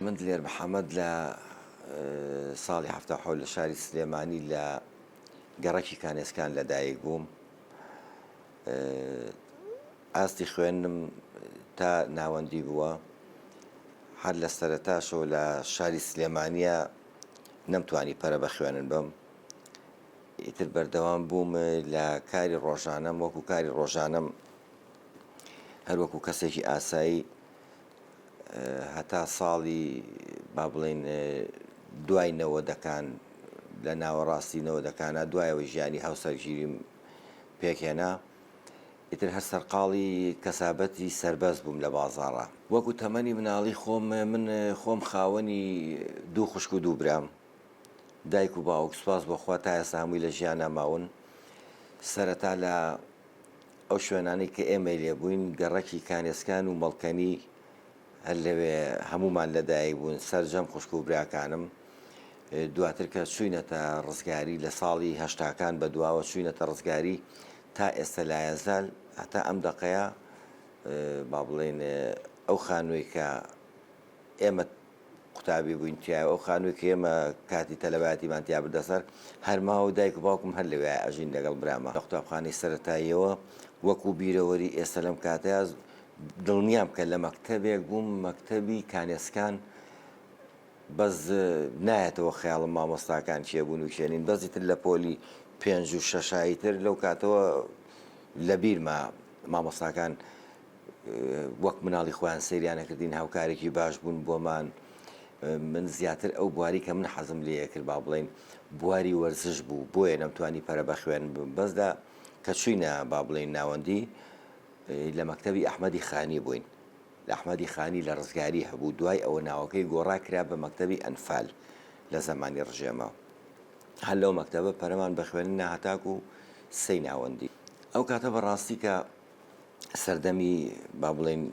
من دلێر محەمەد لە ساڵی حەفتا و حەوت لە شاری سلێمانی لە گەڕەکی کانێسکان لە دایک بووم. ئاستی خوێندنم تا ناوەندی بووە هەر لە سەرتاشەوە لە شاری سلێمانە نەمتوانی پەرە بە خوێنن بم ئیتر بەردەوام بووم لە کاری ڕۆژانم وەکو کاری ڕۆژانم هەروەکو کەسێکی ئاسایی هەتا ساڵی با بڵین دوای نەوەدەکان لە ناوەڕاستی نەوەدەکانە دوایەوە ژیانی هاوسەرگیریم پێکهێنا، ئیتر هەر سەرقاڵی کەسابەتی سەربەست بووم لە بازاڕا. وەکو تەمەنی مناڵی خۆم، من خۆم خاوەنی دوو خوشک و دوو برام، دایک و باوک سوپاس بۆ خوا تا ئێستا هەمووی لە ژیانا ماون، سەرەتا لە ئەو شوێنانەی کە ئێمەی لێ بووین، گەڕەکی کانێسکان و مەڵکەنی، هەر لەوێ هەموومان لەدایک بوون، سەرجەم خوشک و براکانم. دواتر کە چووینەتە ڕزگاری لە ساڵی هەشتاکان بەدواوە چووینەتە ڕزگاری تا ئێستە لایەزال هەتا ئەم دەقەیە با بڵێین ئەو خانووی کە ئێمە قوتابی بووین تایە ئەو خانووی کە ئێمە کاتی تەلەباتیمان تیا بردە سەر هەرما و دایک و باوکم هەر لەوێ ئەژین لەگەڵ برامە لە قوتابخانەی سەتاییەوە وەکو بیرەوەری ئێستا لەم کاتەیە دڵنیام بکە لە مەکتەبێک بووم مەکتەبی کانێسکان بەس نایەتەوە خەیاڵم مامۆستاکان کێ بوون و کێنین بەزی تر لە پۆلی پێنج و شەشایی تر لەو کاتەوە لە بیرما مامۆستاکان وەک مناڵی خۆیان سریانە کردین هاوکارێکی باش بوون بۆمان من زیاتر ئەو بواری کە من حەزم لێ کرد با بڵین بواری وەرزش بوو بۆیە نەمتوانی پەرە بە خوێن بەسدا کە چوینە با بڵین ناوەندی لە مەکتەبی ئەحمەدی خانی بووین. لە ئەحمەدی خانی لە ڕزگاری هەبوو، دوای ئەوە ناوەکەی گۆڕا کرا بە مەکتەبی ئەنفال لە زەمانی ڕژێمە. هەر لەو مەکتەبە پەرەمان بە خوێندن نا هەتاکو سێی ناوەندی. ئەو کاتە بە ڕاستی کە سەردەمی با بڵێین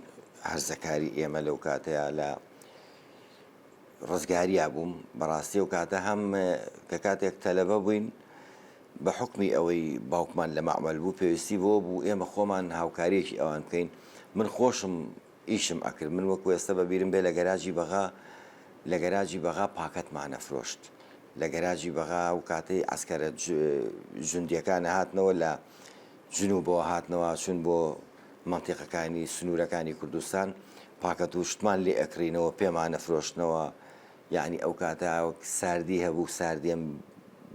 هەرزەکاری ئێمە لەو کاتەیە لە. ڕزگاریا بووم بەڕاستی ئەو کاتە هەم کە کاتێک تەلەبە بووین بە حکمی ئەوەی باوکمان لە مەعمل بوو پێویستی بۆ بوو ئێمە خۆمان هاوکاریەکی ئەوان بکەین من خۆشم ئیشم ئەکرد من وەکو ئێستا بە بیرم بێ لە گەراجی بەغا لە گەراجی بەغا پاکەتمانە فرۆشت لە گەراجی بەغا و کاتەی ئەسکەرە جوندیەکانە هاتنەوە لە جنوبەوە هاتنەوە چون بۆ مەنتیقەکانی سنوورەکانی کوردستان پاکەت و شتمان لێ ئەکڕینەوە پێمانە فرۆشتنەوە یعنی ئەو کاتە ساردی هەبوو ساردیم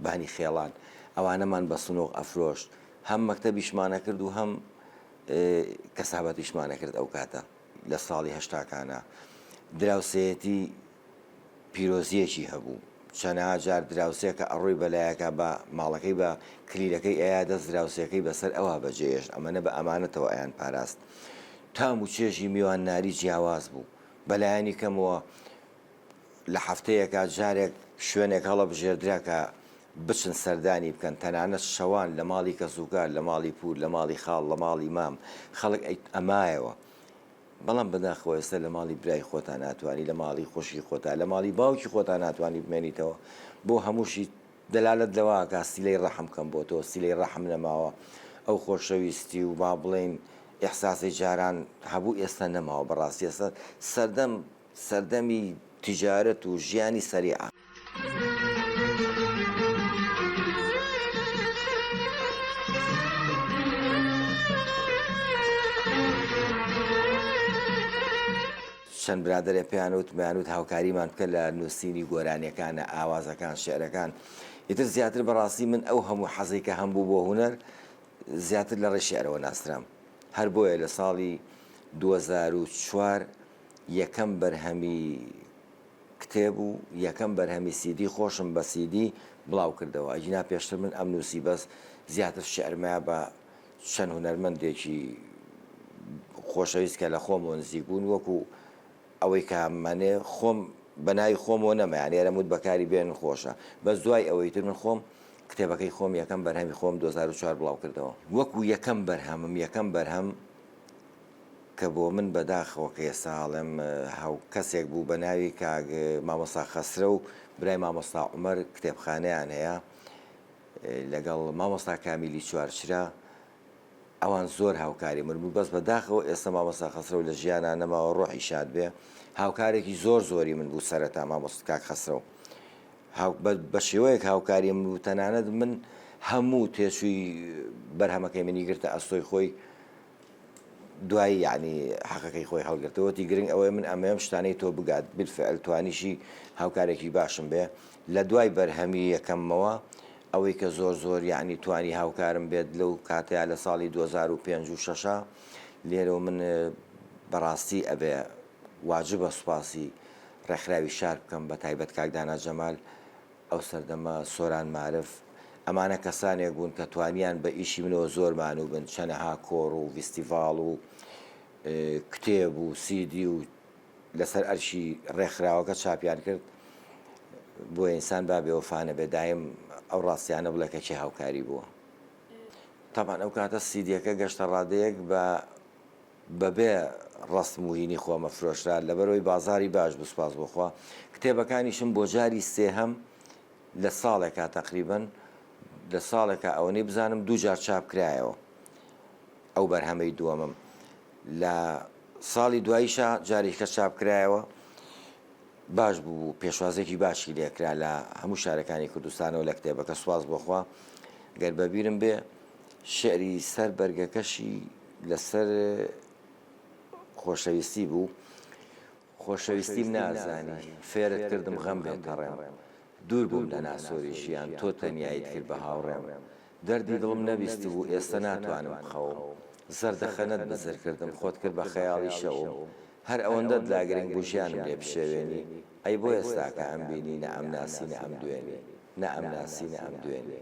بانی خێڵان ئەوانەمان بە سنۆق ئەفرۆشت هەم مەکتتەبیشمانە کرد و هەم کەسابەتیشمانە کرد ئەو کاتە لە ساڵی هەشتاکانە دراوسەتی پیرۆزیەکی هەبوو چەنەها جار دراوسێ کە ئەڕۆی بەلایەکا بە ماڵەکەی بە کلیلەکەی ئەیا دەست دراوسێکەی بەسەر ئەوا بەجێ ئێشت ئەمەنە بە ئەمانەتەوە ئەیان پاراست تام و چێژی میوان ناری جیاواز بوو بەلایەنی کەمەوە لە هەفتەیەکا جارێک شوێنێک هەڵە بژێردرا کە بچن سەردانی بکەن تەنانەت شەوان لە ماڵی کەسوکار لە ماڵی پور لە ماڵی خاڵ لە ماڵی مام خەڵک ئەمایەوە بەڵام بەداخەوە ئێستا لە ماڵی برای خۆتا ناتوانی لە ماڵی خوشکی خۆتا لە ماڵی باوکی خۆتا ناتوانی بمێنیتەوە بۆ هەمووشی دەلالت لەواکە سیلەی ڕەحم کەم بۆ تۆ سیلەی ڕەحم نەماوە ئەو خۆشەویستی و با بڵێین ئیحساسی جاران هەبوو ئێستا نەماوە بەڕاستی ئێستا سەردەم سەردەمی تجارەت و ژیانی سەریعە. چەند برادەرێ پێیان وت مەیان وت هاوکاریمان بکە لە نووسینی گۆرانیەکانە ئاوازەکان شعرەکان ئیتر زیاتر بەڕاستی من ئەو هەموو حەزەی کە هەم بوو بۆ هونەر زیاتر لە ڕێی شعرەوە ناسرام هەر بۆیە لە ساڵی دوو هەزار و چوار یەکەم بەرهەمی کتێب و یەکەم بەرهەمی سیدی خۆشم بە سیدی بڵاو کردەوە ئەگینا پێشتر من ئەم نووسی بەس زیاتر شعرمە بە چەند هونەرمەندێکی خۆشەویست کە لە خۆمەوە نزیک بوون وەکو ئەوەی کە منێ خۆم بەناوی خۆمەوە نەمایان ئێرەموت بەکاری بێن خۆشە بەس دوای ئەوەی تر من خۆم کتێبەکەی خۆم یەکەم بەرهەمی خۆم 2004 بڵاو کردەوە وەکو یەکەم بەرهەمم یەکەم بەرهەم کە بۆ من بەداخەوە کە ئێستا هەڵێم هاو کەسێک بوو بە ناوی کاک مامۆستا خەسرە و برای مامۆستا عومەر کتێبخانەیان هەیە لەگەڵ مامۆستا کامیلی چوارچرا ئەوان زۆر هاوکاری من بوو بەس بەداخەوە ئێستا مامۆستا خەسرە و لە ژیانە نەماوە ڕۆحی شاد بێ هاوکارێکی زۆر زۆری من بوو سەرەتا مامۆست کاک خەسرە و بە شێوەیەک هاوکاری من بوو تەنانەت من هەموو تێچووی بەرهەمەکەی منی گرتە ئەستۆی خۆی دوای یەعنی حەقەکەی خۆی هەڵگرتەوە وتی گرنگ ئەوەیە من ئەمەوێم شتانەی تۆ بگات بالفعل توانیشی هاوکارێکی باشم بێ لە دوای بەرهەمی یەکەممەوە ئەوەی کە زۆر زۆر یەعنی توانی هاوکارم بێت لەو کاتەیە لە ساڵی 2005 و شەشە لێرە من بەڕاستی ئەبێ واجبە سوپاسی ڕێکخراوی شار بکەم بە تایبەت کاک دانا جەمال ئەو سەردەمە سۆران مارف، ئەمانە کەسانێک بوون کە توانیان بە ئیشی منەوە زۆر مانوو بن، چەنەها کۆڕ و ڤیستیڤاڵ و کتێب و سیدی و لەسەر ئەرشی ڕێکخراوەکە چاپیان کرد، بۆیە ئینسان با بێوەفا نەبێ دایم ئەو ڕاستیانە بڵێ کە کێ هاوکاری بووە. تەبعەن ئەو کاتە سیدیەکە گەشتە ڕادەیەک بە. بەبێ ڕەسم و هینی خۆمە فرۆشرا لەبەرەوەی بازاری باش بوو سوپاس بۆ خوا کتێبەکانیشم بۆ جاری سێهەم لە ساڵێکا تەقریبەن لە ساڵێکە ئەوەنەی بزانم دوو جار چاپ کرایەوە ئەو بەرهەمەی دووەمم لە ساڵی دواییشە جارێکە چاپ کرایەوە باش بوو پێشوازێکی باشی لێکرا لە هەموو شارەکانی کوردستانەوە لە کتێبەکە سواز بۆخوا گەر بەبیرم بێ شیعری سەر بەرگەکەشی لەسەر خۆشەویستی بوو، خۆشەویستیم نازانی، فێرت کردم غەم بێ پەڕێم، دوور بووم لە ناسۆری ژیان، تۆ تەنیاییت کرد بە هاوڕێم، دەردی دڵم نەبیستبوو، ئێستە ناتوانم بخەوم، زەردەخەنەت بزر کردم، خۆت کرد بە خەیاڵی شەوم، هەر ئەوەندەت لا گرنگ بوو ژیانم لێ بشێوێنی ئەی بۆ ئێستا کە ئەم بینی نە ئەم ناسی نە ئەم دوێنی نە ئەم ناسی نە ئەم دوێنی.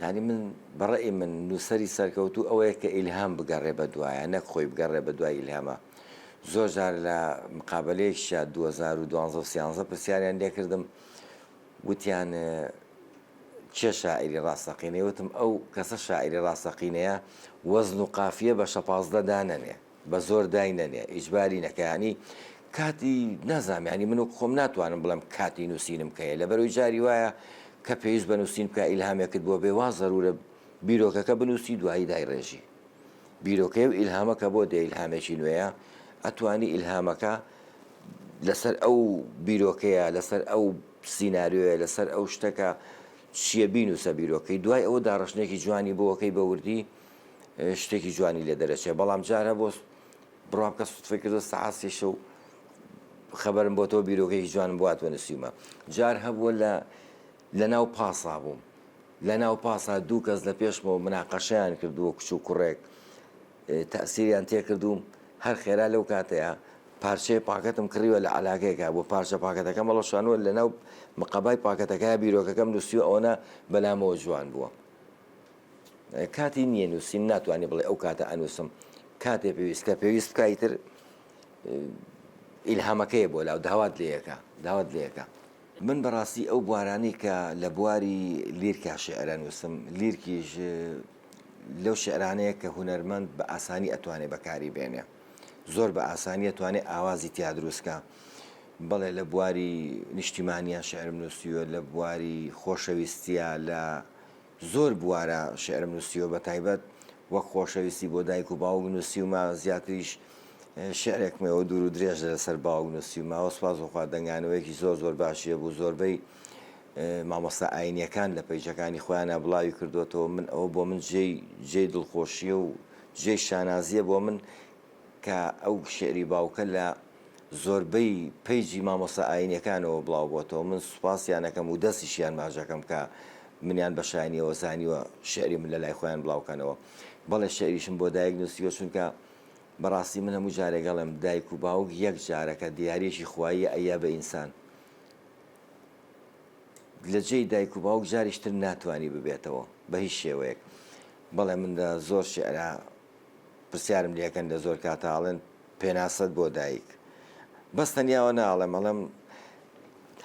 یانی من بە ڕەئی من نووسەری سەرکەوتوو ئەوەیە کە ئیلهام بگەڕێ بە دوایە نەک خۆی بگەڕێ بە دوای ئیلهامە زۆر جار لە مقابلەیەکشە 2012 پرسیاریان لێکردم وتیان کێ شاعری ڕاستەقینەی وتم ئەو کەسە شاعری ڕاستەقینەیە وەزن و قافیە بە شەپازدە دانەنێ بە زۆر دای نەنێ ئیجباری نەکە ینی کاتی نازام ینی من و خۆم ناتوانم بڵم کاتی نووسینم کەەیە لە بەرەوەی جاری وایە کە پێویست بە نووسین بکە ئیلهامێکت بۆ بێ وا زەرورە بیرۆکەکە بنووسی دوایی دای ڕێژی بیرۆکەی و ئیلهامەکە بۆ دێ ئیلهامێکی نوێیە ئەتوانی ئیلهامەکە لەسەر ئەو بیرۆکەیە لەسەر ئەو سینناریۆیە لەسەر ئەو شتەکە چییە بینوسە بیرۆکەی دوای ئەوە داڕشتێکی جوانی بۆەکەی بەوردی شتێکی جوانی لێ دەرەچێ بەڵام جارە بۆ بڕام کە سوتفی کردو سەعاسیش و خەبەرم بۆ تۆ بیرۆکەی جوانم بوات بە نووسیمە جار هەبووە لە لە ناو پاسا بووم لە ناو پاسا دوو کەس لە پێشمەوە مناقەشیان کردووە کچ و کوڕێک تەسیریان تێکردوم هەر خێرا لەو کاتەیە پارچەیە پاکەتم کڕیوە لە علاگەیەەکە بۆ پارچە پاکەتەکە مەڵەشانوە لە ناو مقابای پاکەتەکە بیرۆکەکەم نووسیو ئەوە بەلامەوە جوان بووە. کاتی نییە نووسین ناتوانانی بڵێ ئەو کاتە ئەنووسم کاتێ پێویست کە پێویست بکای تر ئیلهامەکەی بۆ لاو داوات لەکە داوات لەکە من بەڕاستی ئەو بوارانی کە لە بواری لیرکا شعرە نووسم لیرکیش لەو شعرانەیە کە هوەرمەند بە ئاسانی ئەتوانێ بەکاری بێنێ زۆر بە ئاسانیە توانێ ئاوازی تیا دروستکە بەڵێ لە بواری نیشتیمانیان شعرم نووسیوە لە بواری خۆشەویستە لە زۆر بوارە شیعرم نووسیوە بە تایبەت وەک خۆشەویستی بۆ دایک و باوک نووسیومە زیاتریش شیعرێکم هەیە دوور و درێژ لەسەر باوک نووسیومەوە سوپاس بۆ خوا دەنگانەوەیەکی زۆر زۆر باشی هەبوو زۆربەی مامۆستا ئاینیەکان لە پەیجەکانی خۆیانە بڵاوی کردوێتەوە من ئەوە بۆ من جێی جێی دڵخۆشیە و جێی شانازیە بۆ من کە ئەو شعری باوکە لە زۆربەی پەیجی مامۆستا ئاینیەکانەوە بڵاو بۆتەوە من سوپاسیانەکەم ودەستیشیان ماچەکەم کە منیان بە شایەنیەوە زانیوە شعری من لەلای خۆیان بڵاو کەنەوە بەڵێ شعریشم بۆ دایک نووسیوە چونکە بەڕاستی من هەموو جارێگەڵم دایک و باوک یەک جارەکە دیارێکی خوایی ئەیە بە ئینسان لە جێی دایک و باوک جاریشتر ناتوانانی ببێتەوە بە هیچ شێوەیەک بەڵێ من لە زۆر شعرا پرسیارم لەکەن لە زۆر کاتاڵێن پێناسەت بۆ دایک بەس تەنیا ئەوە ناڵێم ئەڵێم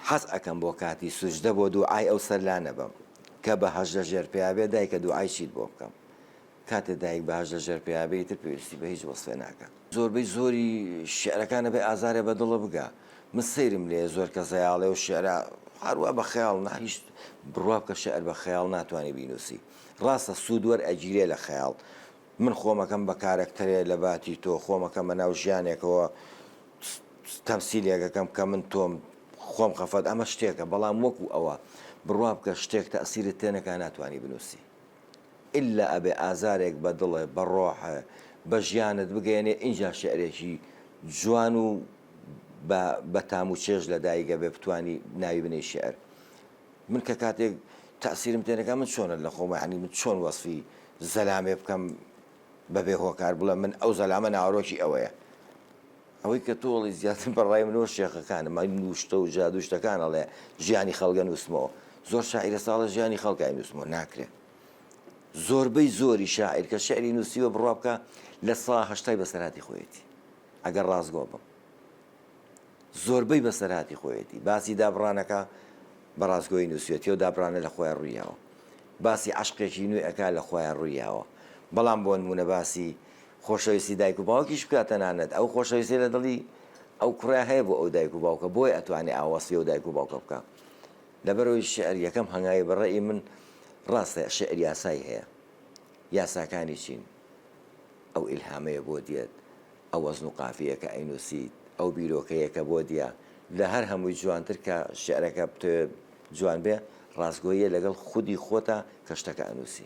حەز ئەکەم بۆ کاتی سوجدە بۆ دوعای ئەو سەر لا نەبەم کە بە هەژ لە ژێر پێیا بێ دایکە دوعای چیت بۆ بکەم کاتێ دایک بە هەژ لە ژێر پێیا بێ ئیتر پێویستی بە هیچ وەسفێ ناکات زۆربەی زۆری شعرەکان ئەبێ ئازارێ بە دڵە بگا من سەیرم لێیە زۆر کەس هەیە ئەڵێ ئەو شعرە هەروا بە خەیاڵ نا هیچ بڕوا بکە شعر بە خەیاڵ ناتوانی بینووسی ڕاستە سوود وەرئەگیرێ لە خەیاڵ من خۆم ئەکەم بە کارەکتەرێ لە باتی تۆ خۆم ئەکەم بە ناو ژیانێکەوە تەمسیلێکەکەم کە من تۆم خۆم خەفەت ئەمە شتێکە بەڵام وەکو ئەوە بڕوا بکە شتێک تەسیرت تێنەکە ناتوانانی بنووسی ئللا ئەبێ ئازارێک بە دڵێ بە ڕۆحە بە ژیانت بگەێنێ ئینجا شعرێکی جوان و بە تام و چێژ لە دایگە بێ بتانی ناوی بنەی شعر من کە کاتێک تەئسیرم تێ نەکا من چۆنە لە خۆمە هەنی من چۆن وەسفی زەلامێ بکەم بەبێ هۆکار بڵێ من ئەو زەلامە ناوەرۆکی ئەوەیە ئەوەی کە تۆڵی زیاتر بەڕای منەوە شێخەکانم من نووشتە و جادوشتەکان ئەڵێ ژیانی خەڵگە نووسمەوە زۆر شاعرە ساڵە ژیانی خەڵکای نووسمەوە ناکرێت زۆربەی زۆری شاعیر کە شعری نووسیوە بڕوا بکە لە سا هەشتای بەسەراتی خۆیەتی ئەگەر ڕاستگۆ بم زۆربەی بەسەرهاتی خۆیەتی باسی دابڕانەکا بە ڕاستگۆیی نوسوێتی ئەو دابڕانە لە خۆیان ڕوی یاوە باسی عەشقێکی نوێ ئەکا لە خۆیان ڕوی یاوە بەڵام بۆ نمونە باسی خۆشەویستی دایک و باوکیش بکا تەنانەت ئەو خۆشەویستی لە دڵی ئەو کوڕە هەیە بۆ ئەو دایک و باوکە بۆیە ئەتوانێ ئاوا وەسفی ئەو دایک و باوکە بکا لەبەرەوەی شعر یەکەم هەنگاوی بە ڕەئی من ڕاستە شعر یاسای هەیە یاساکانی چین ئەو ئیلهامەیە بۆ دێت ئەو وەزن و قافیەیە کە ئەینووسیت، ئەو بیرۆکەیە کە بۆت یە، لە هەر هەمووی جوانتر کە شیعرەکە بتەوێت جوان بێ، ڕاستگۆییە لەگەڵ خودی خۆتا کە شتەکە ئەنووسی.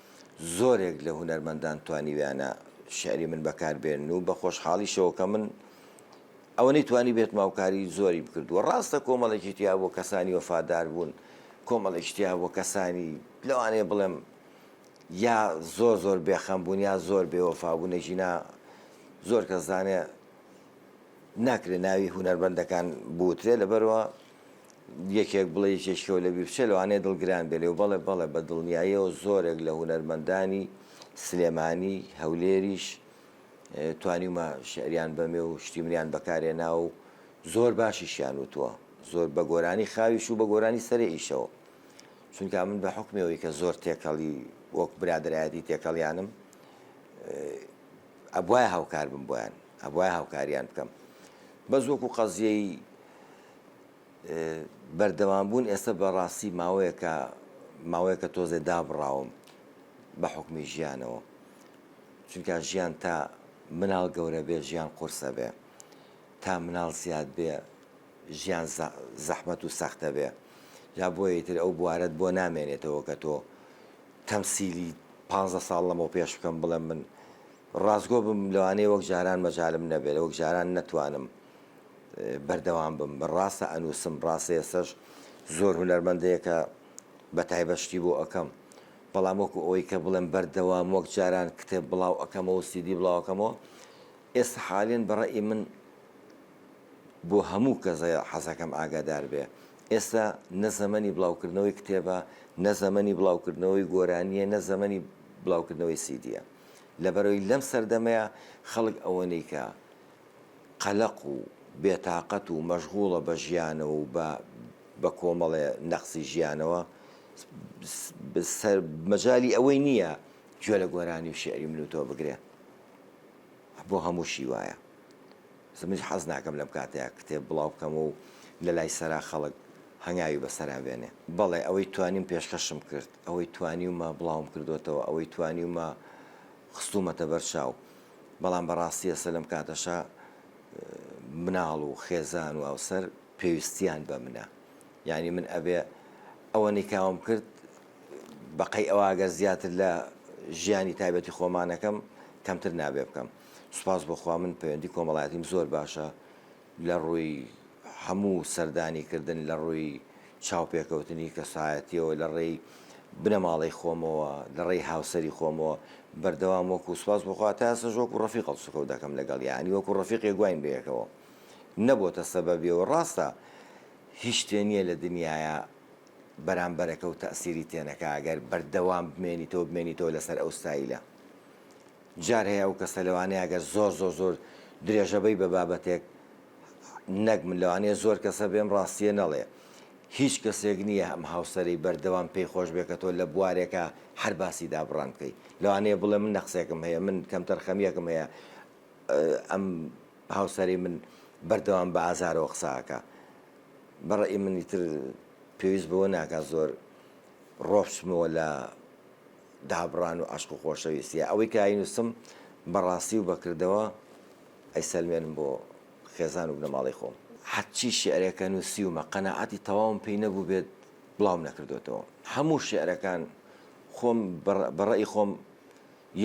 زۆرێک لە هونەرمەندان توانیویانە شیعری من بەکار بێنن و بە خۆشحاڵیشەوە کە من ئەوەنەی توانیبێتم هاوکاری زۆریم کردووە. ڕاستە کۆمەڵێکی تیا بووە کەسانی وەفادار بوون، کۆمەڵێکیش تیا بووە کەسانی لەوانەیە بڵێم یا زۆر زۆر بێخەم بوون یا زۆر بێوەفا بوون، ئەگینا زۆر کەس دەزانێ ناکرێ ناوی هونەرمەندەکان بوترێ لەبەرئەوە یەکێک بڵێ یەکێکیەوە لە بیرچێ لەوانەیە دڵگران بێ لێو بەڵێ بەڵێ بە دڵنیاییەوە زۆرێک لە هونەرمەندانی سلێمانی هەولێریش توانیمە شعریان بەمێ و شتی منیان بەکارێنا و زۆر باشیشیان وتووە زۆر بە گۆرانی خاویش و بە گۆرانی سەرێ ئیشەوە چونکە من بە حکمەوەی کە زۆر تێکەڵی وەک برادایەتی تێکەڵیانم ئەبواە هاوکار بم بۆیان ئەبواە هاوکاریان بکەم بەزۆک و قەزیەی بەردەوام بوون ئێستا بەڕاستی ماوەیەکە ماوەیەکە تۆزێ دابڕاوم بە حکومی ژیانەوە چونکە ژیان تا مناڵ گەورە بێ ژیان قورسە بێ تا مناڵ زیاد بێ ژیان زەحمەت و سەختە بێ جا بۆیە تر ئەو بوارەت بۆ نامێنێتەوە کە تۆ تەمسیلی پ ساڵ لەمەوە پێش بکەم بڵێم من ڕاستگۆ بم لەوانەیە وەک جاران مەجالم نەبێت وەک جاران نەتوانم بەردەوام بم بە ڕاستە ئەنوسم ڕاستە ئێستەش زۆر هونەرمەندەیە کە بە تایبەت شتی بۆ ئەکەم بەڵام وەکو ئەوەی کە بڵێم بەردەوام وەک جاران کتێب بڵاو ئەکەمەوە سیدی بڵاوەکەمەوە ئێستا حالێن بەڕێی من بۆ هەموو کەزە حەزەکەم ئاگادار بێ ئێستا نە زەمەنی بڵاوکردنەوەی کتێبە نە زەمەنی بڵاوکردنەوەی گۆرانیە نە زەمەنی بڵاوکردنەوەی سیدیە لەبەرەوەی لەم سەردەمەیە خەڵک ئەوەنەی کە قەلەق و بێتاقەت و مەشغوڵە بە ژیانەوە و بە بە کۆمەڵێ نەقسی ژیانەوە مەجالی ئەوەی نییە گوێ لە گۆرانی و شیعری من و تۆ بگرێ بۆ هەمووشی وایە منیش حەز ناکەم لەم کاتەیە کتێب بڵاو بکەمەوە و لە لای سەرا خەڵک هەنگاوی بەسەرا بێنێ بەڵێ ئەوەی توانیم پێشکەشم کرد ئەوەی توانیومە بڵاوم کردوەتەوە ئەوەی توانیومە خستومەتە بەر چاو بەڵام بە ڕاستی ئێستا لەم کاتەشا مناڵ و خێزان و هاوسەر پێویستیان بە منە یانی من ئەبێ ئەوە نیکاوم کرد بەقەی ئەوە ئەگەر زیاتر لە ژیانی تایبەتی خۆمانەکەم کەمتر نابێ بکەم سوپاس بۆخوا من پەیوەندی کۆمەڵایەتیم زۆر باشە لە ڕووی هەموو سەردانی کردن لە ڕووی چاوپێکەوتنی کەسایەتیەوە لە ڕێی بنەماڵەی خۆمەوە لە ڕێی هاوسەری خۆمەوە بەردەوام وەکو سوپاس بۆ خوا تا ئێستەش وەکو ڕەفیق هەڵسوکەوت دەکەم لەگەڵ یانی وەکو ڕەفیقێک گواین بەیەکەوە نەبۆتە سەبەبێ و ڕاستە هیچ شتێ نییە لە دنیایە بەرامبەرەکە و تەئسیری تێنەکا گەر بەردەوام بمێنیتەوە بمێنیتەوە لەسەر ئەو ستایلە جار هەیە ئەو کەسە لەوانەیە ئەگەر زۆر زۆر زۆر درێژە بەی بە بابەتێک نەک من لەوانەیە زۆر کەسە بێم ڕاستیە نەڵێ هیچ کەسێک نییە ئەم هاوسەری بەردەوام پێی خۆش بێ کە تۆ لە بوارێکە هەر باسی دابڕان بکەی لەوانەیە بڵێ من نەقسێکم هەیە من کەمتەرخەمیەکم هەیە ئەم هاوسەری من بەردەوام بە ئازارەوە قساکە بەڕێ منی تر پێویست بەوە ناکات زۆر ڕۆپچمەوە لە دابڕان و عەشق و خۆشەویستیە ئەوەی کە ئاینوسم بەڕاستی و بەکردەوە ئەیسەلمێنم بۆ خێزان و بنەماڵەی خۆم. هەرچی شیعرێکە نوسیومە قەناعەتی تەواوم پێی نەبوبێت بڵاوم نەکردۆتەوە هەموو شیعرەکان خۆم بە ڕەئی خۆم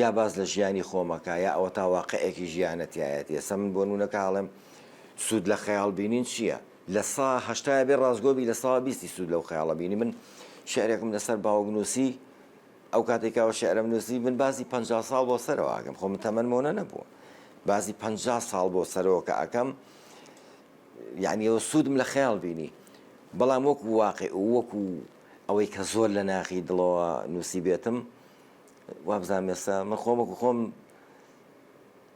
یا باس لە ژیانی خۆمەکە یا ئەوەتا واقعێکی ژیانە تایەتیە سەمن بۆ نونەکە هەڵێم سود لە خەیاڵ بینین چیە؟ لە سا هەشتای بێ ڕاستگۆ بی لە سا بیستی سوود لەو خەیاڵە بینی من شعرێکم لەسەر باوک نووسی ئەو کاتێک کاوە شعرم نووسی من بازی پ ساڵ بۆ سەرەوە ئەگەم خۆ من تەمەەن مۆنە نەبووە بازی پ ساڵ بۆ سەرەوە کە ئەەکەم یعنی ئەو سوودم لە خەیاڵ بینی بەڵام وەکو واقع وەکو ئەوەی کە زۆر لە ناخی دڵەوە نووسی بێتم وابزانێستا من خۆمەکو خۆم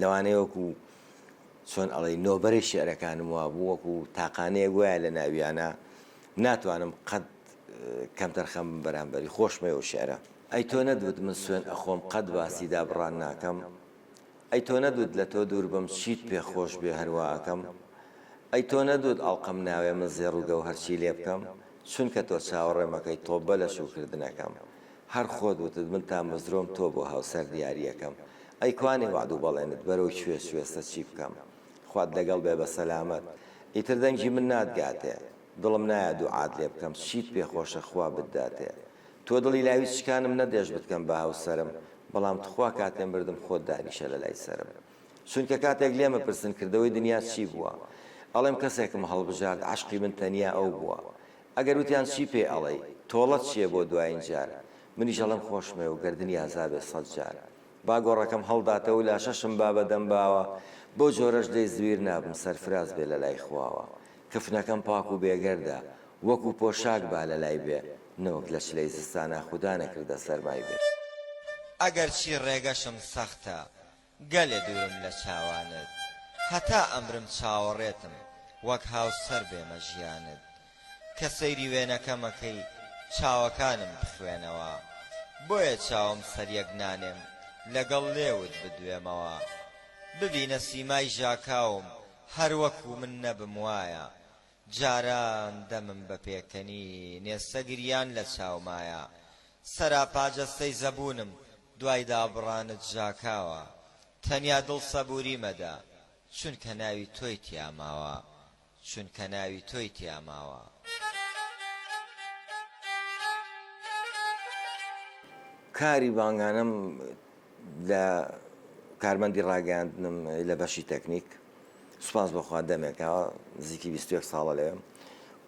لەوانەیە وەکو چۆن ئەڵی نۆبەری شعرەکانم وابوو وەکو تاقانەیە گوایە لە ناویانە ناتوانم قەت کەمتەرخەم بەرامبەری خۆشمە و شعرە ئەی تۆ نەدوت من سوێن ئەخۆم قەت باسی دابڕان ناکەم ئەی تۆ نەدوت لە تۆ دوور بم چیت پێ خۆش بێ هەرواکەم ئەی تۆ نەدوت ئەڵقەم ناوێ من زێڕ و گەوهەرچی لێ بکەم چونکە تۆ چاوەڕێمەکەی تۆبە لە شوکردنەکەم هەر خۆت وتت من تامەزرۆم تۆ بۆ هاوسەر دیاریەکەم ئەی کوانێ وەعد و بەڵێنت بەرەو کوێ سوێسە چی بکەم خوات لەگەڵ بێ بە سەلامەت ئیتر دەنگی من ناتگاتێ دڵم نایە دوعات لێ بکەم چیت پێ خۆشە خوا بتداتێ تۆ دڵی لاوی چکانم نەدێشت بتکەم بە هاوسەرم بەڵام تخوا کاتێ مردم خۆت دانیشە لە لای سەرم چونکە کاتێک لێمە پرسن کردەوەی دنیا چی بووە ئەڵێم کەسێکم هەڵبژارد عەشقی من تەنیا ئەو بووە ئەگەر وتیان چی پێ ئەڵێی تۆڵەت چیە بۆ دوایین جار منیش ئەڵێم خۆشمەوێ و گەردنی ئازابێ سەد جار با گۆڕەکەم هەڵداتەوەو لاشەشم با بە دەم باوە بەو جۆرەش لێی زویر نابم سەرفراز بێ لە لای خواوە کفنەکەم پاک و بێگەردە وەکو پۆشاک با لە لای بێ نەوەک لە چلەی زستانا خودا نەکردە سەرمای بێ ئەگەرچی ڕێگەشم سەختە گەلێ دوورم لە چاوانت هەتا ئەمرم چاوەڕێتم وەک هاوسەر بێمە ژیانت کە سەیری وێنەکەمەکەی چاوەکانم بخوێنەوە بۆیە چاوم سەریەک نانێم لەگەڵ لێوت بدوێمەوە ببینە سیمای ژاکاوم هەر وەکو من نەبم وایە جاران دەمم بە پێکەنینێ سەگریان لە چاومایە، سەراپا جەستەی زەبوونم دوای دابڕانت ژاکاوە، تەنیا دڵ سەبووری مەدە، چونکە ناوی تۆی تیا ماوە، چونکە ناوی تۆی تیا ماوە. کاری بانگانەم لە کارمەندی ڕاگەیاندنم لە بەشی تەکنیک. سوپاس بۆ خوا دەمێکە نزیکی بیست و یەک ساڵە لەوێم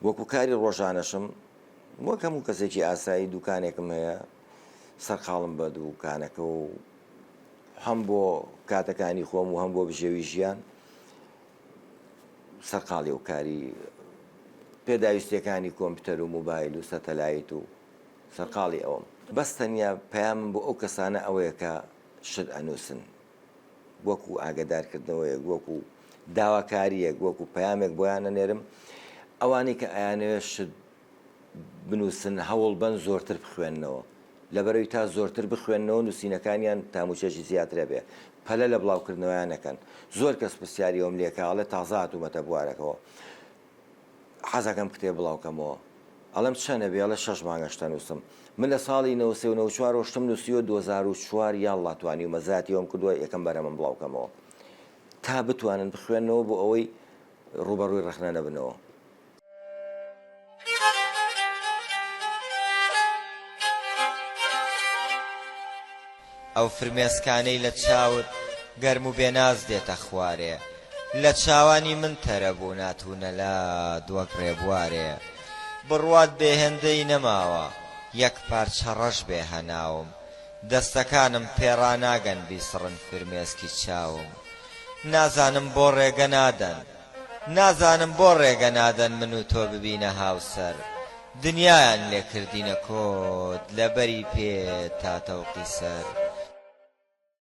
وەکو کاری ڕۆژانەشم وەک هەموو کەسێکی ئاسایی دوکانێکم هەیە سەرقاڵم بە دووکانەکە و هەم بۆ کاتەکانی خۆم و هەم بۆ بژێوی ژیان سەرقاڵی و کاری پێداویستەکانی کۆمپیوتەر و موبایل و سەتەلایت و سەرقاڵی ئەوم بەس تەنیا پەیامم بۆ ئەو کەسانە ئەوەیە کە شت ئەنووسن وەکو ئاگەدارکردنەوەیەک، وەکو داواکارییەک، وەکو پەیامێک بۆیان ئەنێرم، ئەوانەی کە ئەیانەوێت شت بنووسن هەوڵبەن زۆرتر بخوێننەوە، لەبەرەوی تا زۆرتر بخوێننەوە نووسینەکانیان تاموچێکی زیاتر هەبێت، پەلە لە بڵاوکردنەوەیان نەکەن، زۆر کەس پرسیاری ئەوەم لێکا، ئەڵێ تازە هاتوومەتە بوارەکەوە. حەزەکەم کتێب بڵاو کەمەوە ئەڵێم چەنە بێ ئەڵێ شەش مانگە شتە نوسم من لە ساڵی نەوەد سێ و نەوەد چوار وە شتم نوسیوە دوەزار و چوار یاڵڵا توانیومە زیاتی وەم کردوە یەکەم بەرهەمەم بڵاو کەمەوە تا بتوانن بخوێنەوە بۆ ئەوەی ڕوبەڕوی ڕەخنە نەبنەوە. ئەو فرمێسکانەی لە چاوت گەرم و بێناز دێتە خوارێ لە چاوانی من تەرە بوو ناتوونە لات وەک ڕێبوارێ بڕوات بێ هێندەی نەماوە یەک پارچە ڕەش بێ هەناوم دەستەکانم پێ ڕاناگەن بیسڕن فرمێسکی چاوم نازانم بۆ ڕێگە نادەن نازانم بۆ ڕێگە نادەن من و تۆ ببینە هاوسەر دنیایان لێ کردینە کۆد لە بەری پێ تا تەوقی سەر.